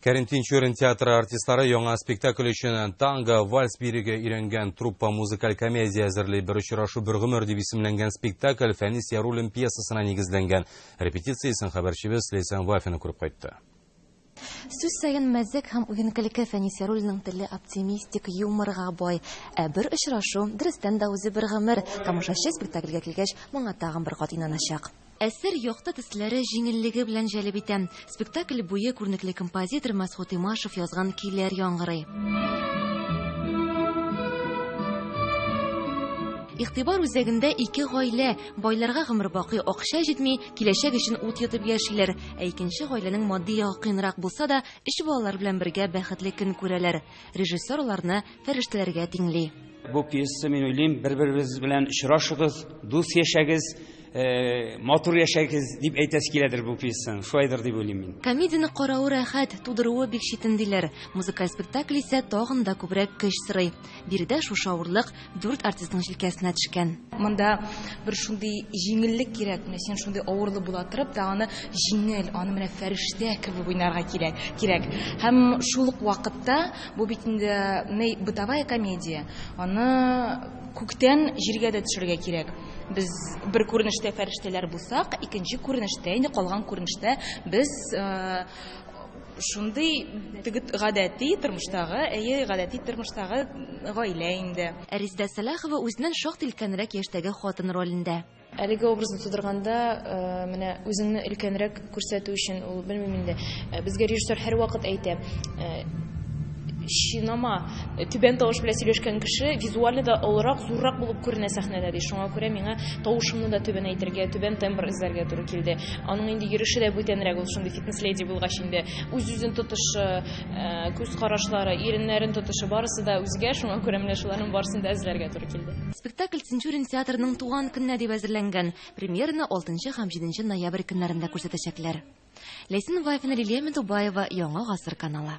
Кәрим Тинчурин театры артистлары яңа спектакль өчен танго, вальс биреге өйрәнгән труппа музыкаль комедия әзерли. Бер очрашу бер гомер дип исемләнгән спектакль Фәнис Яруллин пьесасына нигезләнгән. Репетициясен хәбәрчебез Лейсан Вафина күреп кайтты. Сүз саен мәзәк һәм уен-көлке Фәнис Яруллинның теле оптимистик, юморга бай. Ә бер очрашу, дөрестән дә үзе бер гомер. Тамашачы спектакльгә килгәч, моңа тагын бер кат инаначак. Әсәр якты төсләре җиңеллеге белән җәлеп итә. Спектакль буе күренекле композитор Мәсгут Имашев язган көйләр яңгырый. Игътибар үзәгендә ике гаилә, байларга гомер бакый акча җитми, киләчәк өчен ут йотып яшиләр. Ә икенче гаиләнең матди ягы кыенрак булса да, өч балалар белән бергә бәхетле көн күрәләр. Режиссер аларны фәрештәләргә тиңли. Бу пьеса, мин уйлыйм, бер-берегез белән очрашыгыз, дус яшәгез, э, матур яшәгез дип әйтәсе киләдер бу пьесаны. Шулайдыр дип уйлыйм мин. Комедияне каравы рәхәт, тудыруы бик читен диләр. Музыкаль спектакль исә тагын да күбрәк көч сорый. Биредә шушы авырлык дүрт артистның җилкәсенә төшкән. Монда бер шундый җиңеллек кирәк, менә син шундый авырлы була торып та аны җиңел, аны менә фәрештә кебек уйнарга кирәк, кирәк. Һәм шул ук вакытта Бу бит инде ни бытовая комедия. Аны күктән җиргә дә төшерергә кирәк. Без бер күренештә фәрештәләр булсак, икенче күренештә, инде калган күренештә без шундый теге гадәти тормыштагы, әйе, гадәти тормыштагы гаилә инде. Ә Резидә Сәлахова үзеннән шактый өлкәнрәк яшьтәге хатын ролендә. Әлеге образны тудырганда, менә үзеңне өлкәнрәк күрсәтү өчен, ул, белмим инде, безгә режиссер һәрвакыт әйтә, Чинама, түбән тавыш белән сөйләшкән кеше визуально да олырак, зуррак булып күренә сәхнәдә, ди. Шуңа күрә миңа тавышымны да түбәнәйтергә, түбән тембр эзләргә туры килде. Аның инде йөреше дә бүтәнрәк, ул шундый фитнес-леди булгач инде. Үз-үзен тотышы, күз карашлары, иреннәрен тотышы, барысы да үзгә, шуңа күрә менә шуларның барысын да эзләргә туры. килде. Спектакль Тинчурин театрының туган көненә дип әзерләнгән. Премьераны 6 һәм 7 ноябрь көннәрендә күрсәтәчәкләр. Ләйсән Вафина, Лилия Медубаева, Яңа гасыр каналы.